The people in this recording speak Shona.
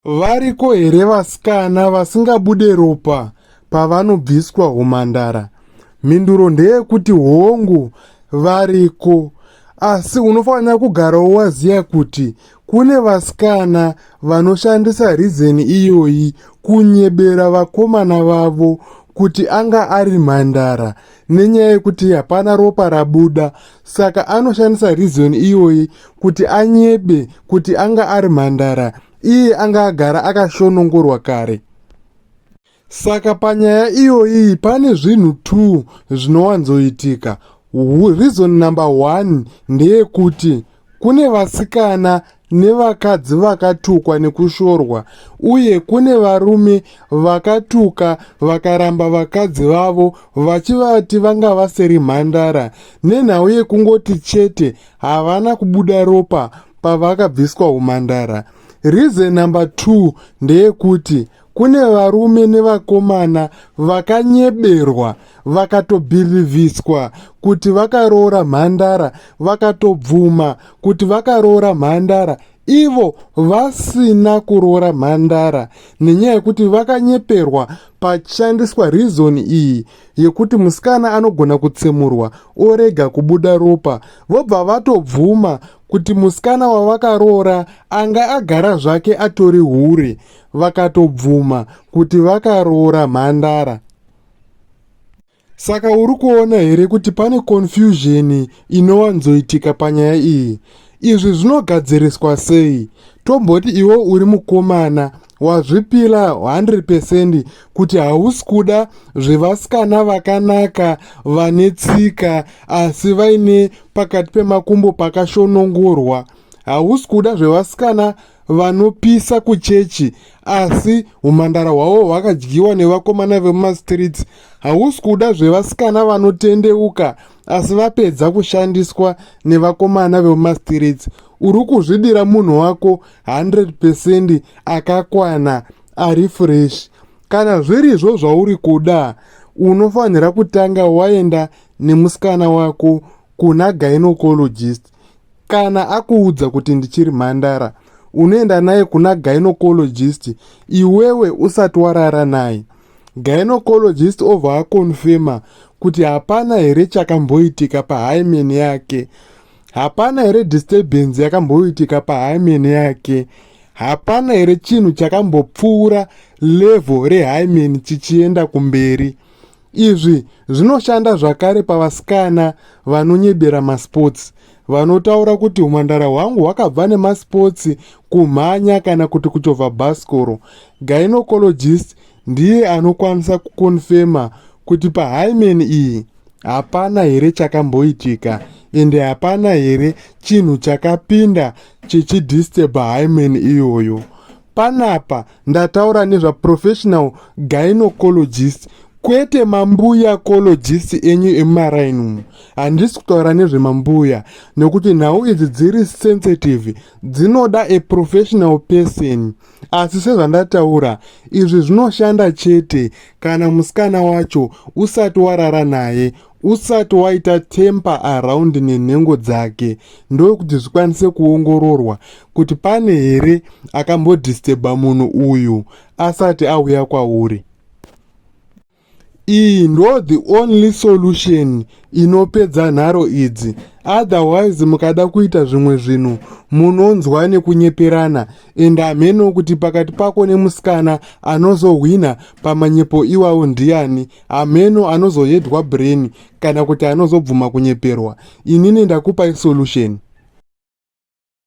Variko here vasikana vasingabude ropa pavanobviswa humhandara? Mhinduro ndeyekuti hongu, variko. Asi unofanira kugarawo waziva kuti kune vasikana vanoshandisa rizeni iyoyi kunyebera vakomana vavo kuti anga ari mhandara nenyaya yekuti hapana ropa rabuda saka anoshandisa reason iyoyi kuti anyebe kuti anga ari mhandara iye anga agara akashonongorwa kare saka panyaya iyoyi pane zvinhu two zvinowanzoitika reason number one ndeyekuti Kune vasikana nevakadzi vakatukwa nekushorwa uye kune varume vakatuka vakaramba vakadzi vavo vachivati vanga vasiri mhandara nenhau yekungoti chete havana kubuda ropa pavakabviswa umhandara. Reason number two ndeyekuti kune varume nevakomana vakanyeberwa vakatobhirivhiswa kuti vakaroora mhandara vakatobvuma kuti vakaroora mhandara ivo vasina kuroora mhandara nenyaya yekuti vakanyeperwa pachishandiswa rizoni iyi yekuti musikana anogona kutsemurwa orega kubuda ropa vobva vatobvuma kuti musikana wavakaroora anga agara zvake atori hure vakatobvuma kuti vakaroora mhandara saka uri kuona here kuti pane confusion inowanzoitika panyaya iyi izvi zvinogadziriswa sei tomboti iwe uri mukomana wazvipira 100 pecent kuti hausi kuda zvevasikana vakanaka vane tsika asi vaine pakati pemakumbo pakashonongorwa hausi kuda zvevasikana vanopisa kuchechi asi umhandara hwavo hwakadyiwa nevakomana vemumastreets hausi kuda zvevasikana vanotendeuka asi vapedza kushandiswa nevakomana vemumastreets uri kuzvidira munhu wako 100 pecent akakwana ari fresh kana zvirizvo zvauri kuda unofanira kutanga waenda nemusikana wako kuna gynecologist kana akuudza kuti ndichiri mhandara unoenda naye kuna gynocologist iwewe usati warara naye gynocologist obva akonfema kuti hapana here chakamboitika pahymen yake hapana here disturbance yakamboitika pahymen yake hapana here chinhu chakambopfuura level rehymen chichienda kumberi Izvi zvinoshanda zvakare pavasikana vanonyebera masports vanotaura kuti humhandara hwangu hwakabva nemasports kumhanya kana kuti kuchovha bhasikoro gynecologist ndiye anokwanisa kukonfema kuti pahymen iyi hapana here chakamboitika ende hapana here chinhu chakapinda chichidisturba hymen iyoyo Panapa ndataura nezva professional gynecologist kwete mambuya cologist enyu emumaraini umu handisi kutaura nezvemambuya nekuti nhau idzi dziri sensitive dzinoda a professional person asi sezvandataura izvi zvinoshanda chete kana musikana wacho usati warara naye usati waita temper around nenhengo dzake ndokuti zvikwanise kuongororwa kuti pane here akambodistebha munhu uyu asati auya kwauri iyi ndo the only solution inopedza nharo idzi otherwise mukada kuita zvimwe zvinhu munonzwa nekunyeperana and hameno kuti pakati pako nemusikana anozohwina pamanyepo iwawo ndiani hameno anozoyedwa brain kana kuti anozobvuma kunyeperwa inini ndakupai solution